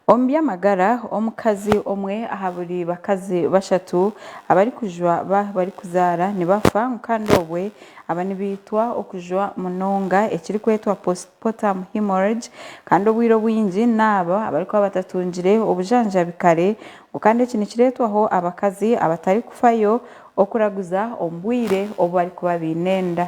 Omu by'amagara, omukazi omwe aha buri bakazi bashatu abarikujwa ba barikuzaara nibafa ngu kandi obwe aba nibaitwa okujwa munonga ekirikwetwa postpartum hemorrhage kandi obwire obwingi n'abo abarikuba batatungire obujanjabi kare ngu kandi eki nikireetwaho abakazi abatarikufayo okuraguza omu bwire obu barikuba baine enda.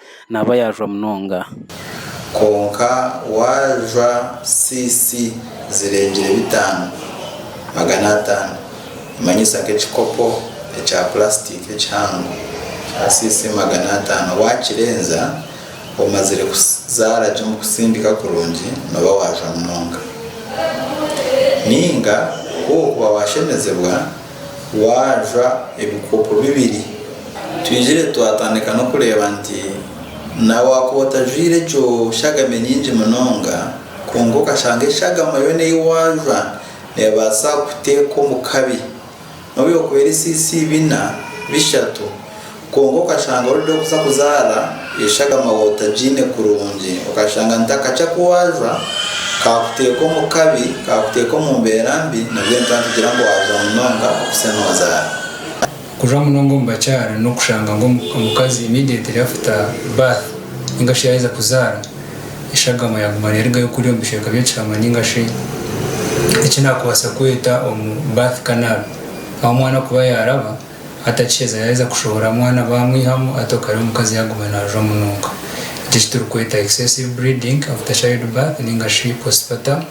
naaba yaajwa munonga. Kwonka waajwa cc zirengire bitaano, magana ataano, nimanyisa nk'ekikopo ekya purasitika ekihango kya cc magana ataano, waakirenza omazire kuzaara gye omu kutsindika kurungi nooba waajwa munonga. Nainga ku okuba waashemezibwa, Waajwa ebikopo bibiri. Twigire twatandika n'okureeba nti na waakuba otajwaire egyo shagame nyingi munonga, kwonka okashanga eshagama yoona ei waajwa neebaasa kukuteeka omu kabi. N'obu erikuba eri CC. bina, bishatu. Kwonka okashanga orikuda okuza kuzaara eshagama wootagiine kurungi. Okashanga nti akakya ku waajwa kaakuteeka omu kabi, kaakuteeka omu mbeera mbi nabwe nituba nitugira ngu waajwa munonga okuse noozaara. Kujwa munonga omu bakyara n'okushanga ngu omukazi immediately after birth nainga shi yaaheza kuzaara, eshagama yaaguma neerugayo kuriya omu bicweka by'ekihama nainga shi eki naakubaasa kweta omu birth canal ahu omwana kuba yaaraba. Atakiheza yaheza kushohora mwana bamwihamu ati okare omukazi yaguma najwa munonga. Eki ekiturikweta excessive bleeding after child birth ninga shi postpartum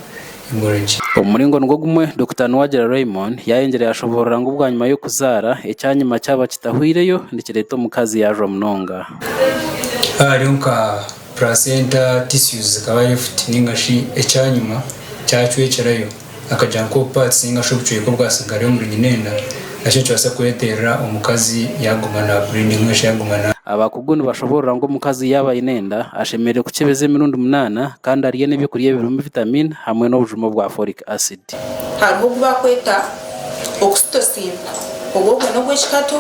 hemorrhage. Omu muringo nigwo gumwe, Dokita Nuwagira Raymond yayengire yashoboorora ngu bwanyima y'okuzaara, ekyanyima kyaba kitahwireyo nikireeta omukazi yajwa munonga. Haaba hariyo nka placenta tissues zikaba left ninga shi ekyanyima kyacwekirayo. akagira nka obupaatsi ninga shi obucweka obwatsigara omuri nyina enda, naki nikibaasa kureeterera omukazi yaaguma naabuliidinga nari shi yaaguma na. Abakugu nibashoboorora ngu omukazi yaaba aine enda, ashemereire kukyebeza emirundi munaana kandi arye n'eby'okurya ebirimu vitamiini hamwe n'obujuma bwa folic acid. Hariho ogu baakweta oxytocin, obwo obwo n'obw'ekikato,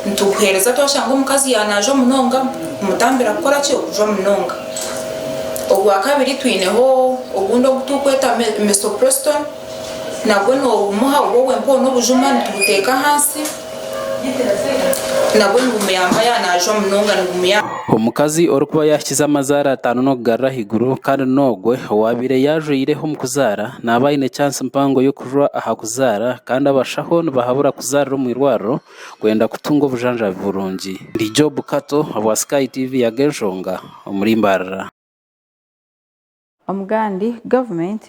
nitubuheereza twashanga omukazi yaanaaja omunonga, kumutambira kukora ki? Okujwa munonga. Ogwa kabiri twineho ogundi ogu turikweta misoprostol nagwo nogumuha obwo bwenka obwo n'obujuma nitubuteeka ahansi nabwo nibumuyamba yaaba naajwa munonga nibumuyamba. Omukazi orikuba yaahikize amazaara ataano n'okugarura ahaiguru kandi n'ogwo owaabaire yaajwaire omu kuzaara naaba aine chansi mpango y'okujwa aha kuzaara kandi abashaho nibahabura kuzaarira omu irwariro kwenda kutunga obujanjabi burungi. Ndi Job Kato obwa Sky TV Yaga Enshonga omuri Mbarara. Omugandi, Government,